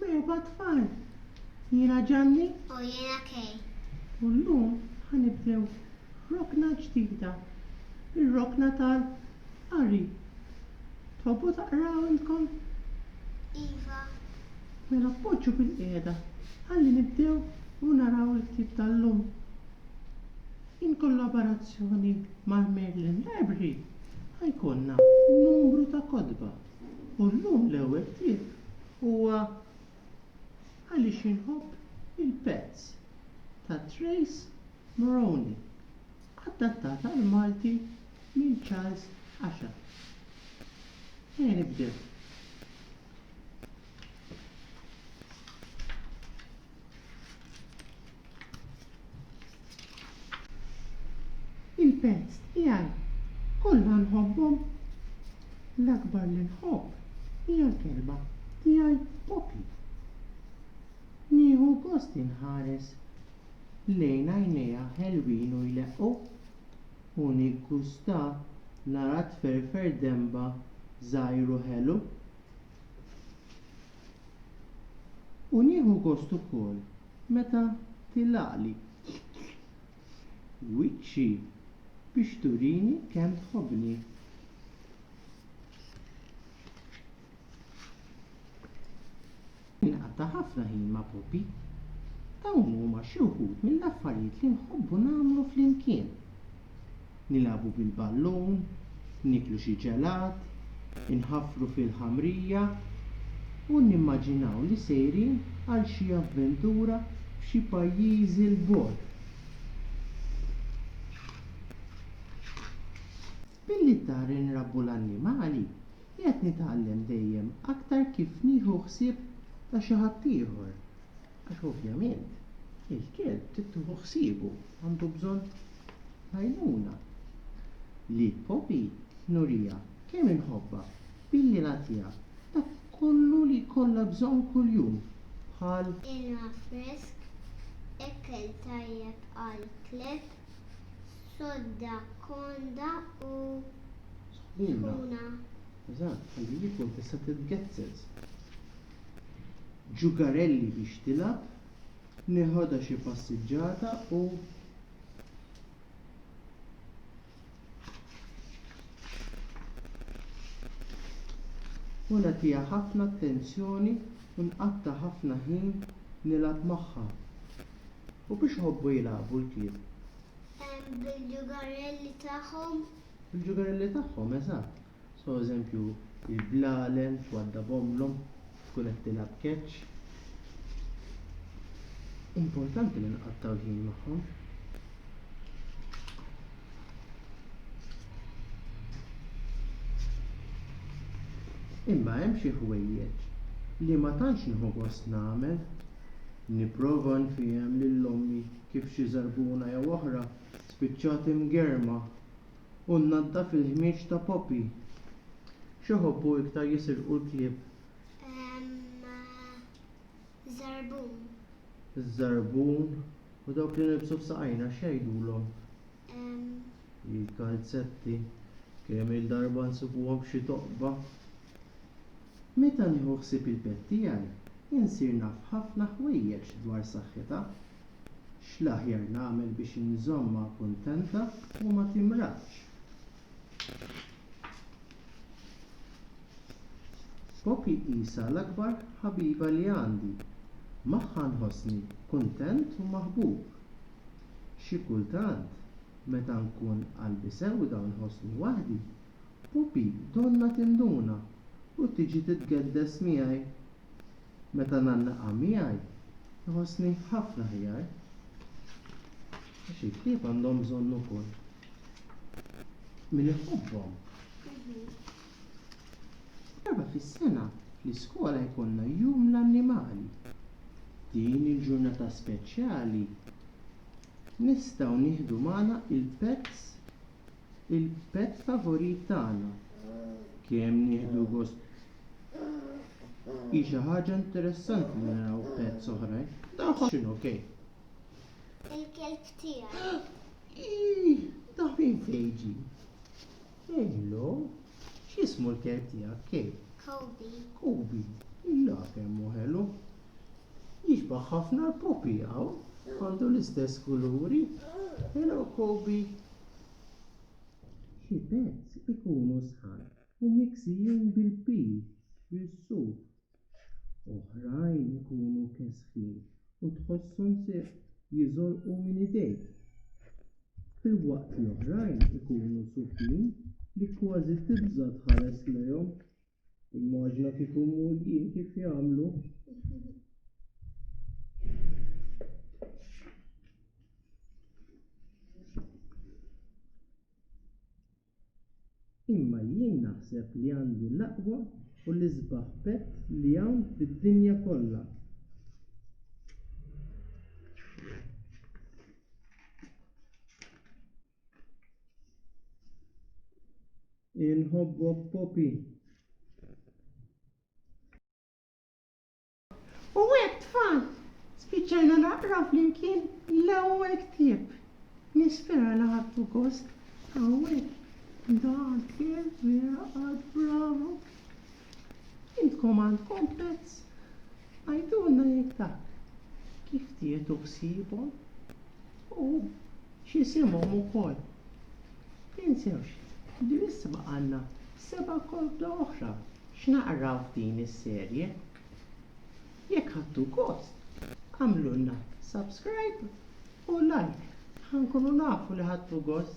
Merba tfal, jiena Ġanni. U jiena Kay. U llum ħanibdew rokna ġdida, ir-rokna tal-qari. Tħobbu taqraw intkom? Iva. Mela poġġu bilqiegħda ħalli nibdew u naraw il-ktieb tal-lum. In kollaborazzjoni mal-Merlin Library. Ħa jkollna numru ta' kotba u llum l-ewwel ktieb huwa Għaliex Inħobb il-Pets ta' Trace Moroney, adattat għall-Malti minn Charles Asher. Ejja nibdew. il-pets tiegħi kollha nħobbhom. L-akbar li nħobb hija l-kelba tiegħi Poppy. Nieħu gost inħares lejn għajnejha ħelwin u jleqqu u niggusta nara tferfer denba żgħir u ħelu. U nieħu gost ukoll meta tilaqli wiċċi biex turini kemm tħobbni. Jien qatta' ħafna ħin ma' Poppy. Dawn huma xi wħud mill-affarijiet li nħobbu nagħmlu flimkien. nilagħbu bil-ballun, nieklu xi ġelat, inħaffru fil-ħamrija u nimmaġinaw li sejrin għal xi avventura f'xi pajjiżi 'l bogħod. Billi d-dar inrabbu l-annimali, qiegħed nitgħallem dejjem aktar kif nieħu ħsieb ta' xi ħaddieħor. Għax ovvjament il-kelb trid tieħu ħsiebu, għandu bżonn l-għajnuna. Li Poppy nuriha kemm inħobbha billi nagħtiha dak kollu li jkollha bżonn kuljum bħal. Ilma fresk, ekkel tajjeb għall-kleb, sodda konda u sħuna. Eżatt, ħalli jikun tista' titgezzez. Jugarelli biex tilgħab, neħodha xi passiġġata u. U nagħtiha ħafna attenzjoni u nqatta' ħafna ħin nilgħab magħha. U biex iħobbu jilagħbu l-klieb? Bil-jugarelli tagħhom. Bil-jugarelli tagħhom, eżatt. So eżempju, il-blalen twaddab ommlhom, tkun qed tilgħab catch. Importanti li nqattgħu l-ħin magħhom. Imma hemm xi ħwejjeġ li ma tantx nieħu gost nagħmel. Nipprova nfiehem lil ommi kif xi żarbuna jew oħra spiċċat imgerma u nnaddaf il-ħmieġ ta' Poppy. X'iħobbu iktar jisirqu l-klieb? Iż-żarbun. Iż-żarbun. U dawk li nilbsu f'saqajna x'jgħidulhom? Il-kalzetti. Kemm-il darba nsibuhom f'xi toqba. Meta nieħu ħsieb il-pet tiegħi, insir naf ħafna ħwejjeġ dwar saħħitha. X'l-aħjar nagħmel biex inżommha kuntenta u ma timradx? Poppy qisha l-akbar ħabiba li għandi. Magħha nħossni kuntent u maħbub. Xi kultant, meta nkun qalbi sewda u nħossni waħdi, Poppy donnha tinduna u tiġi titgeddes miegħi Meta ngħannaqha miegħi nħossni ħafna aħjar. Għax il-klieb għandhom bżonn ukoll min iħobbhom. Darba fis-sena fl-iskola jkollna Jum l-Annimali. Din il-ġurnata speċjali nistgħu nieħdu magħna il-pets Il-pet favorit tagħna. Kemm nieħdu gost. Hi xi ħaġa interessanti li naraw pets oħrajn. Tagħhom x'inhu okej. Il-kelb tiegħi. Ta' min fejġi? Hello. X'ismu l-kelb tiegħek kej? Kobi. Kobi. Illa kemm hu ħelu. Jixbah ħafna l-puppy hawn, għandu l-istess kuluri. Hello Koby! Xi pets ikunu sħan u miksijin bil-pil, bis-suf. Oħrajn ikunu kesħin u tħosshom se jiżolqu minn idejk. Filwaqt li oħrajn ikunu sufin li kważi tibża' tħares lejhom. Immaġina kieku mmur jien kif jagħmlu. Imma jien naħseb li għandi l-aqwa u l-isbaħ pett li hawn fid-dinja kollha. Inħobbok Poppy. U hekk tfal, spiċċajna naqraw flimkien l-ewwel ktieb. Nispera li ħadtu gost. Hawnhekk. Dak il-miraqad bravu. Intkom għandkom pets? Għidulna jekk taf kif tieħdu ħsiebhom u x'isimhom ukoll. Tinsewx li issa baqgħalna seba' kotba oħra x'naqraw f'din is-serje. Jekk ħadtu gost, agħmlulna subscribe u like ħa nkunu nafu li ħadtu gost.